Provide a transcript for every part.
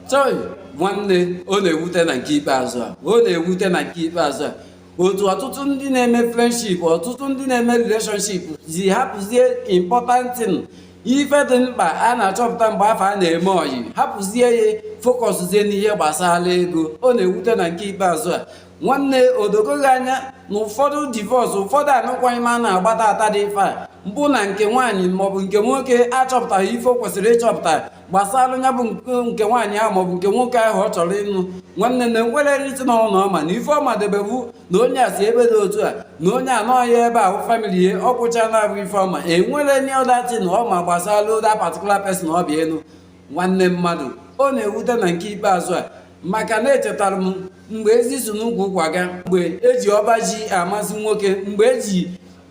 chọị nwanne ọ na-ewute na nke ikpeazụ a ọ na-ewute na nke ikpeazụ a otu ọtụtụ ndị na-eme friendship ọtụtụ ndị na-eme relationship ji hapụzie important thing ife dị mkpa a na-achọpụta mgbe afụ a na-eme ọyị hapụzie ya focuszie n'ihe gbasara ego ọ na-ewute na nke ikpeazụ a nwanne o dogo gị anya na ụfọdụ divorce ụfọdụ anụkwaghị m a na-agba taata dị ife a bụ na nke nwaanyị maọbụ nke nwoke achọpụtaghị ife o kwesịrị ịchọpụta gbasara ya bụ nke nwaanyị ahụ maọbụ nke nwoke ahụ ọ chọrọ ịnụ nwanne na enwerọ anything ọbụna ọ ma na ife ọ madebe wụ na onye a si ebe dị otu a na onye a nọ ebe ahụ family ya ọ kwụcha na-abụ ife ọ ma enwerọ any other thing ọ ma gbasara that particular person ọ bịa ịnụ nwanne mmadụ ọ na-ewute na nke ikpeazụ a maka na echetara m mgbe ezi si n'ukwu ụkwa ga mgbe eji ọba ji amasị nwoke mgbe eji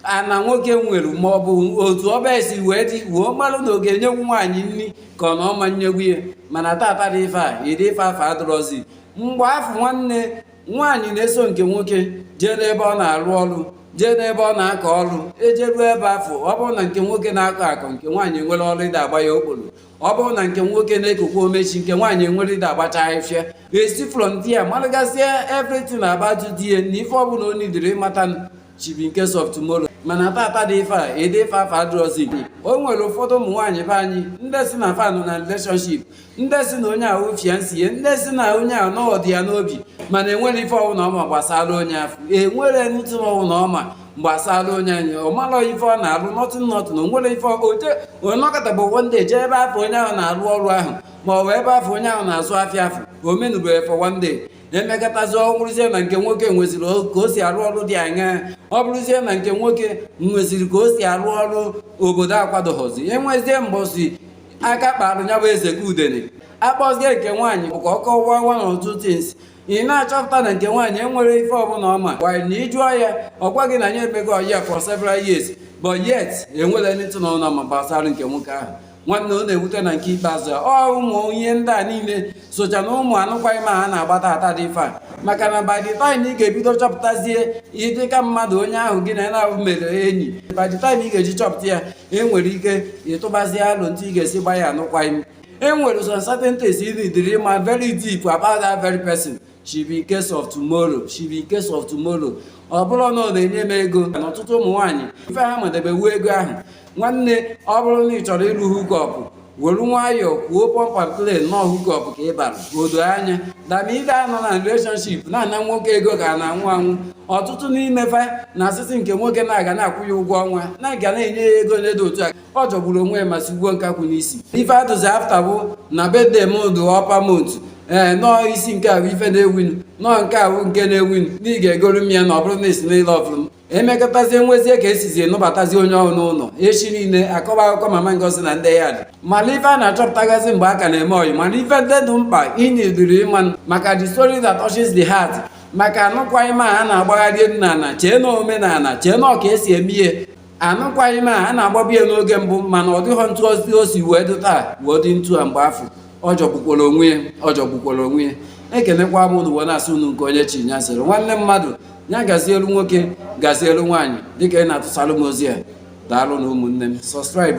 ana nwoke nwere ma ọ bụ otu ọba ya si wee dị wee malụ na ọ ga-enyenwu nwaanyị nri ka ọ na ọ ma nyenwu ya mana taata dị ife a ụdị ife afụ adịrọzi mgbe afụ nwanne nwaanyị na-eso nke nwoke jee n'ebe ọ na-arụ ọrụ jee n'ebe ọ na-akọ ọrụ e jeruo ebe afụ ọ bụrụ na nke nwoke na-akọ akọ nke nwaanyị nwere ọrụ ịda agba ya okporo ọ bụrụ na nke nwoke na-ekokwa omechi nke nwaanyị nwere ịda agbacha afịfịa e si from there malụgasịa everything about di ya na ife ọbụla o needirị ịmata should be in case of tomorrow mana taata dị ife a ụdị ife afụ adịrọzi igbo o nwere ụfọdụ ụmụ nwaanyị be anyị ndị sị na fa nọ na relationship ndị sị na onye a wụ fiancé ya ndị sị na onye ahụ na ọ dị ya n'obi mana enwerọ ife ọwụna ọ ma gbasara onye afụ enwerọ anything ọwụna ọ ma gbasara onye anyị ọ marọ ife ọ na-alụ nothing nothing o nwerọ ife oje ọ nọkata bụ one day jee ebe afụ onye ahụ na-alụ ọrụ ahụ ma ọ bụ ebe afụ onye ahụ na-azụ afịa afụ o menụrọ ya for one day e mekatazi ọ bụrụzie na nke nwoke nweziri o- ka o si arụ ọrụ dị anya ọ bụrụzie na nke nwoke nweziri ka o si arụ ọrụ obodo akwadoghọzi enwezie mbọsị aka kparụ ya bụ eze ka udene a kpọzie nke nwaanyị bụ ka ọ kọwaa one or two things ị na-achọpụta na nke nwaanyị enwerọ ife ọbụla ọ ma kwanụ na ị jụọ ya ọ gwa gị na ya emego ọyị a for several years but yet enwerọ anything ọbụla ọ ma gbasara nke nwoke ahụ nwanne ọ na-ewute na nke ikpeazụ a ọ ụmụ ihe ndị a niile socha na ụmụ anụkwaghị m a ha na-agba taata dị ife a maka na by the time ị ga-ebido chọpụtazie ihe dịka mmadụ onye ahụ gị na ya naabọ mere enyi by the time ị ga-eji chọpụta ya e nwere ike ị tụbazie alo etu ị ga-esi gba ya anụkwaghị m e nwere some certain things ị needirị ịma very deep about that very person should be in case of tomorrow should be in case of tomorrow ọ bụrụ na ọ na-enye m ego na ọtụtụ ụmụ nwaanyị ife ha madebe wụ ego ahụ nwanne ọ bụrụ na ị chọrọ ịlụ hookup were nwayọọ kwuo pump and plain na ọ hookup ka ị bịara o doo anya than ịbịa nọ na relationship na-ana nwoke ego ka a na-anwụ anwụ ọtụtụ n'ime fa na-asị sị nke nwoke na ọ ga na-akwụ ya ụgwọ ọnwa na ọ ga na-enye ya ego n'ụdị otu a ọ jọgburu onwe ya ma sigbuo nkakwụ n'isi ife a dụzi after bụ na birthday m dụ upper month ee nọọ isi nke ahụ ife na-ewunu nọọ nke ahụ nke na-ewunu na ị ga-egolu m ya na ọ bụrụ na esi n'ile ọfụrụ m emekọtazie nwezie ka e sizie nụbatazi onye ọhụrụ n'ụlọ echi niile akọba akụkọ mama ngozi na ndị ya dị mana ife a na-achọpụtagasị mgbe a ka na-eme ọyị mana ife ndị dị mkpa ị needịrị ịmanụ maka the story that touches the heart maka anụkwaghịm a na-agbagharị nna na chee na omenala chee na ọ ka e si eme ihe anụkwaghịm a a na-agbabu ya n'oge mbụ mana ọ dịghọ ntụ o si wee dị taa wee dị ntu a mgbe afụ ọ jọgbukwara onwe ya ọ jọgbukwara onwe ya ekelekwa m unu wee na-asị unu nke onye chi ya sịrị nwanne mmadụ ya gazielu nwoke gazielu nwaanyị dịka ị na-atụsalụ m ozi a daalụ nụ ụmụnne m subscribe